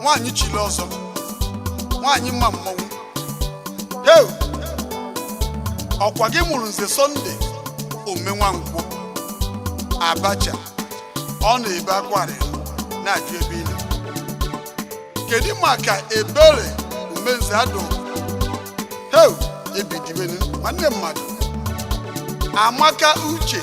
nwaanyị chili ọzọ nwaanyị ma mmanwụ Hey! ọkwa gị mụrụ nze sọnde umenwankwọ abacha ọ na-ebe akwa arịrị na-ajụ ebe ị nọ kedu maka ebere umenze adụ heu ebi dibenu nwanne mmadụ amaka uche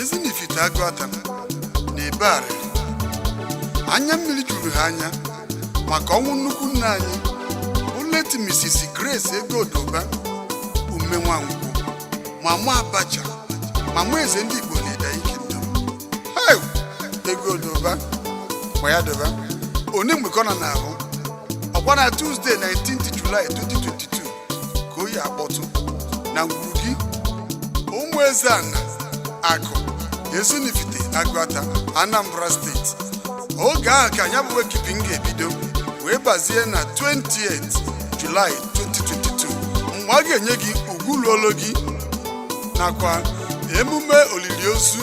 ezinifite agụata na-ebe arịrị anya mmiri juru ha anya maka ọnwụ nnukwu nne anyị bụ late Mrs. Grace Ego Odoba umenwankwọ mama abacha mama eze ndị Igbo n'ịda ike ndụ Hey! Ego Odoba ma ya doba onye mgbe ka ọ nọ n'ahụ ọkwa na Tuesday 19th July 2022 ka oyi akpọtụ na ngwuru gị ụmụezeana akụ ezinifite agụata anambra steeti oge ahụ ka ya bụ wake keeping ga-ebido wee bazie na 20 julaị 2022 mgbe a ga-enye gị ugwu luolo gị nakwa emume olili ozu